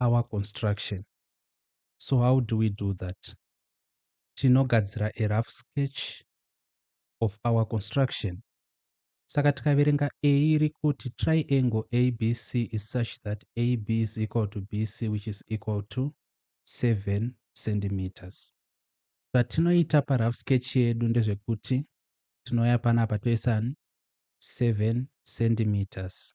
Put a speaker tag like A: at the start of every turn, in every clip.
A: our construction so how do we do that tinogadzira a rough sketch of our construction saka tikaverenga a iri kuti triangle abc is such that ab is equal to bc which is equal to 7 centimeters zvatinoita parough sketch yedu ndezvekuti tinouya panapa toisa 7 centimeters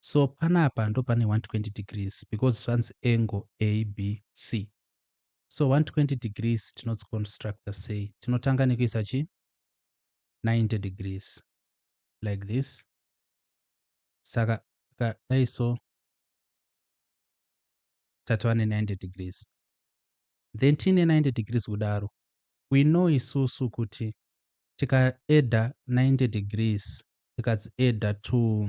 A: so panapa ndopane 120 degrees because zvanzi angle abc so 120 degrees tinodziconstructa sei tinotanga nekuisa chi 90 degrees like this saka dai so tatova ne 90 degrees then tiine 90 degrees kudaro we know isusu kuti tikaeda 90 degrees tikadzieda to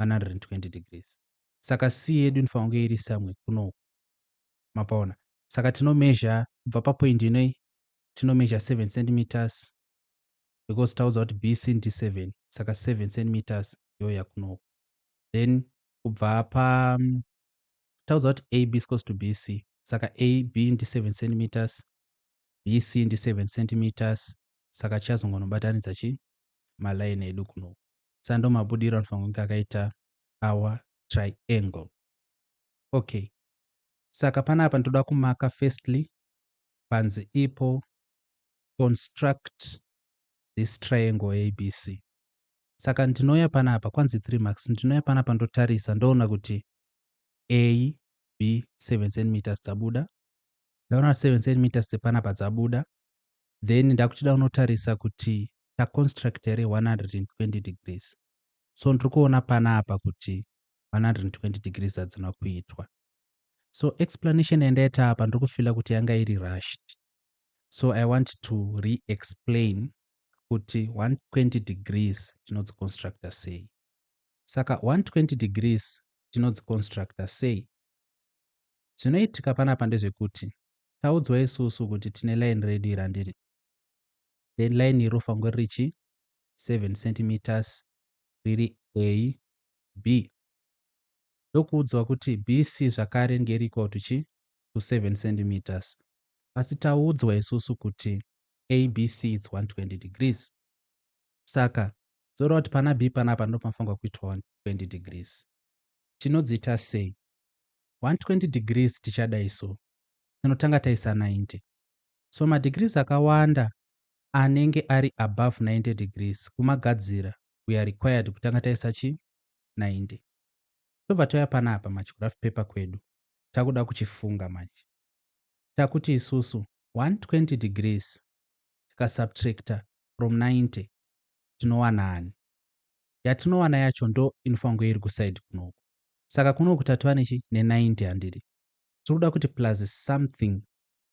A: 120 degrees saka c yedu inofanira kunge iri somewhere kunoku mapaona saka tino measure kubva papoint inoi tino measure 7 centimeters because taudzwa kuti bc ndi 7 saka 7 centimeters yoya kunoku then kubva pa mm, taudzwa kuti ab is close to bc saka ab ndi 7 centimeters bc ndi 7 centimeters saka tichazongonobatanidza chi maline edu kunoku sa ndomabudiro anofanira kunge akaita our triangle okay saka panapa ndoda kumaka firstly panzi ipo construct this triangle abc saka ndinouya panapa kwanzi 3 marks ndinouya panapa ndotarisa ndoona kuti a b 7 centimeters dzabuda ndaona 7 centimeters dzepanapa dzabuda then ndakuchida unotarisa kuti taconstruct iri 120 degrees so ndiri kuona panapa kuti 120 degrees hadzina kuitwa so explanation yandaita apa ndiri kufila kuti yanga iri rushed so i want to re-explain kuti 120 degrees tinodziconstructa sei saka 120 degrees tinodziconstructa sei zvinoitika panapa ndezvekuti taudzwa isusu kuti tine line redu irandiri then line iri rofanirwa riri chi 7 centimeters riri AB ndokuudzwa kuti BC zvakare ringe riri equal to chi to 7 centimeters asi taudzwa isusu kuti ABC it's 120 degrees saka zvoreva kuti pana B panapa ndipo panofanirwa kuitwa 120 degrees tinodziita sei 120 degrees tichadai so tinotanga taisa 90 so madegrees akawanda anenge ari above 90 degrees kumagadzira we are required kutanga taisa chi 90 tobva tauya panapa manje kuraf paper kwedu takuda kuchifunga manje takuti isusu 120 degrees tikasubtracta from 90 tinowana ani yatinowana yacho ndo inofanirwa iri kuside kunoku saka kunoku tatova nechi ne90 handidi tiri kuda kuti plus something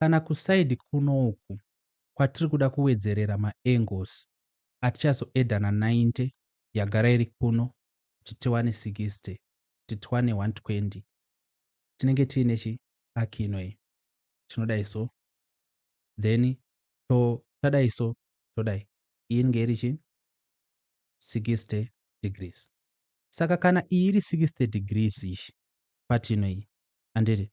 A: kana kuside kuno uku kwatiri kuda kuwedzerera ma angles atichazo adder na 90 yagara iri kuno kuti tiwane 60 kuti tiwane 120 tinenge tiine chi arc ino iyi tinodai so then to tadai so todai iyi inge iri chi 60 degrees saka kana iyi iri 60 degrees ishi part ino iyi handiti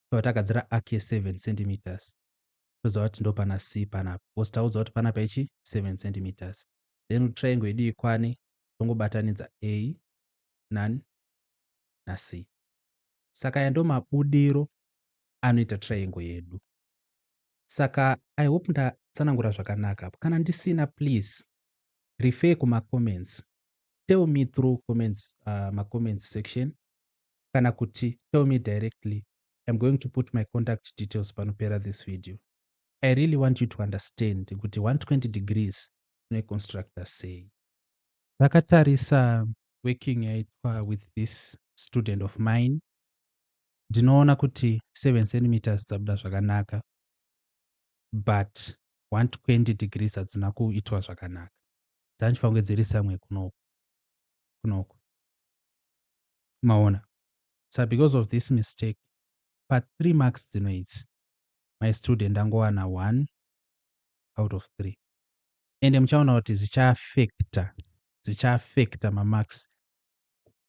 A: tobva tagadzira arc ye 7 cm toziva kuti ndopana c panapa because taudzwa kuti panapa ichi 7 cm then kuti triangle yedu ikwane tongobatanidza a nan na c saka aya ndo mabudiro anoita triangle yedu saka i hope ndatsanangura zvakanaka apo kana ndisina please refer kumacomments tell me through comments uh, macomments section kana kuti tell me directly I'm going to put my contact details panopera this video I really want you to understand kuti 120 degrees tinoiconstructa sei takatarisa working yaitwa with this student of mine ndinoona kuti 7 centimeters dzabuda zvakanaka but 120 degrees hadzina kuitwa zvakanaka dzandifange dziri samwe kunoku kunoku maona sa because of this mistake pa three marks dzino idzi my student ndangowana one out of three ende muchaona kuti zvichaafekta zvichaafekta mamarks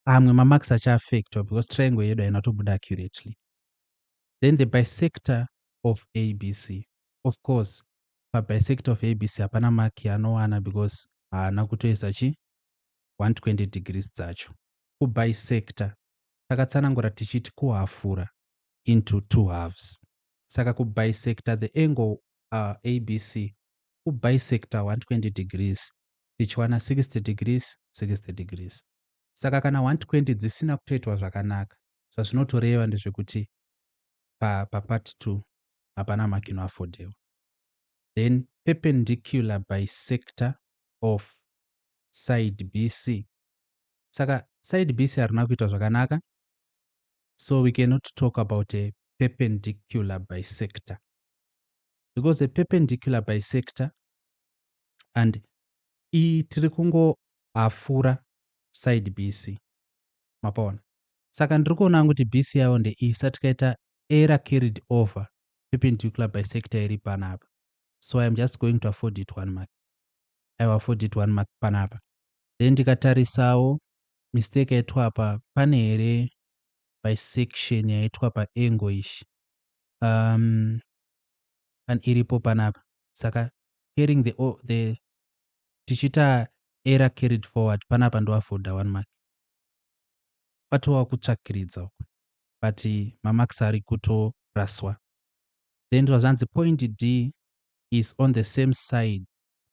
A: amwe mamarks achaafektwa because triangle yedu haina tobuda accurately then the bisector of abc of course pabisector of abc hapana mark yaanowana because haana kutoisa chi 120 degrees dzacho ku bisector takatsanangura tichiti kuhafura, into two halves. Saka ku bisector the angle ABC ku bisector 120 degrees tichiwana 60 degrees 60 degrees. Saka kana 120 dzisina kutoitwa zvakanaka zvazvinotoreva ndezvekuti pa pa part 2 hapana mark ino affordewa. Then perpendicular bisector of side BC saka side bc harina kuita zvakanaka so we cannot talk about a perpendicular bisector because a perpendicular bisector and iyi tiri kungohafura side bc mapaona saka ndiri kuona kuti bc yavo ndeiyi sa tikaita era carried over perpendicular bisector iri panapa so iam just going to afford it one mark i will afford it one mark panapa then ndikatarisawo mistake yaitwa apa pane here bisection yaitwa paangle ishi um, and iripo panapa saka carrying the, the tichiita error carried forward panapa ndoafoda one mark kwatova kutsvakiridza uku but mamax ari kutoraswa then zvazvanzi point d is on the same side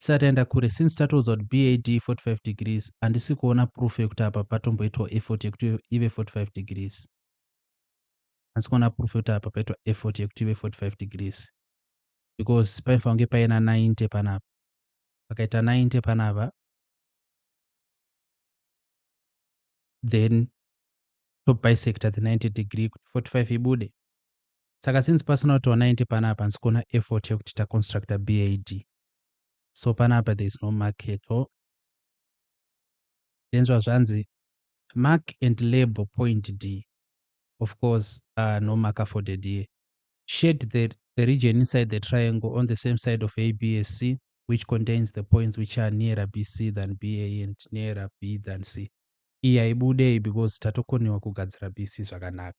A: tisati taenda kure since tatoudza kuti bad 45 degrees handisi kuona proof yekuti apa patomboitwa effort yekuti ive 45 degrees handisi kuona proof yekuti apa paitwa effort yekuti ive 45 degrees because paifanira kunge paina 90 panapa pakaita 90 panapa then tobisector the 90 degree kuti 45 ibude saka since pasina kuti 90 panapa hansi kuona effort yekuti taconstructa bad so panapa there is no market o tenzwa zvanzi mark and label point d of course uh, no mark afforded here shade the, the region inside the triangle on the same side of absc which contains the points which are nearer bc than ba and nearer b than c iyi haibudei because tatokonewa kugadzira bc zvakanaka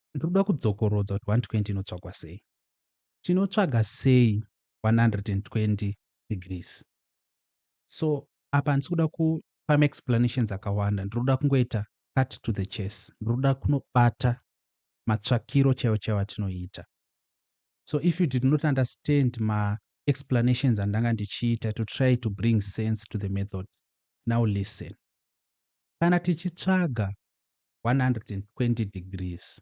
A: Ndiri kuda kudzokorodza kuti 120 inotsvagwa sei. Tinotsvaga sei 120 degrees. So apa handisi kuda kupa maexplanations akawanda. Ndiri kuda kungoita cut to the chase. Ndiri kuda kunobata matsvakiro chaiwo chaiwo atinoita. So if you did not understand maexplanations andanga ndichiita to try to bring sense to the method, now listen. Kana tichitsvaga 120 degrees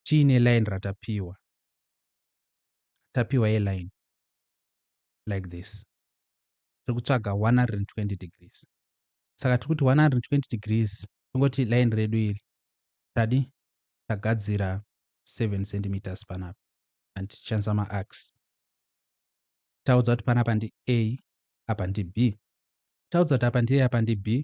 A: tiine line ratapiwa tapiwa yeline like this tiri kutsvaga 120 degrees saka tiri kuti 120 degrees tingoti line redu iri tadi tagadzira 7 centimeters panapa and tichishandisa maax taudza kuti panapa ndi a apa ndi b taudza kuti apa ndi a apa ndi b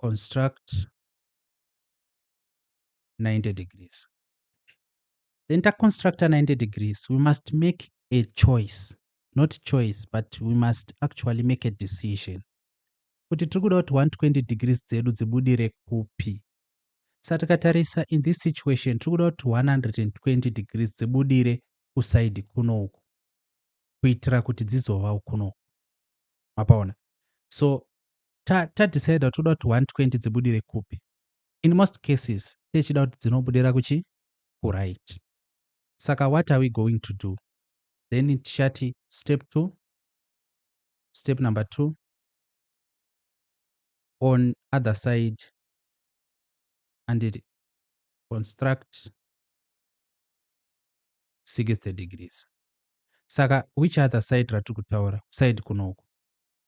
A: construct 90 degrees. Then ta constructor 90 degrees, we must make a choice. Not choice, but we must actually make a decision. Kuti tiri kuda kuti 120 degrees dzedu dzibudire kupi. Sa takatarisa in this situation tiri kuda kuti 120 degrees dzibudire kusaidi kuno uku kuitira kuti dzizova kuno uku. Mapaona? So ta, ta decide kuti toda kuti 120 dzibudire kupi in most cases techida kuti dzinobudira kuchi kuright saka what are we going to do then tichati step 2 step number 2 on other side and it construct 60 degrees saka which other side ratiri kutaura side kunoku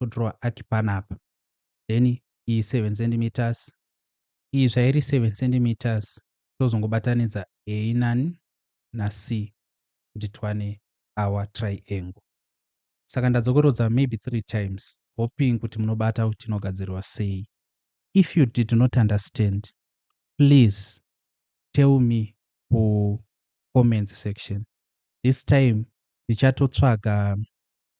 A: todrawer arc panapa then iyi 7 centimeters iyi zvairi 7 centimeters tozongobatanidza a nani nac kuti tiwane our triangle saka ndadzokorodza maybe three times hoping kuti munobata kuti inogadzirwa sei if you did not understand please tell me ku comments section this time ndichatotsvaga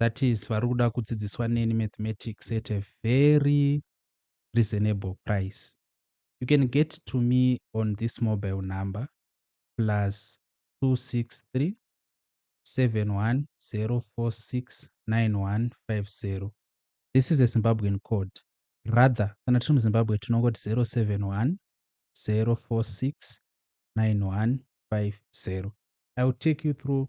A: that is vari kuda kudzidziswa neni mathematics at a very reasonable price you can get to me on this mobile number plus 263 710469150 this is a zimbabwean code rather kana tiri muzimbabwe tinongoti 071 046 9150 i will take you through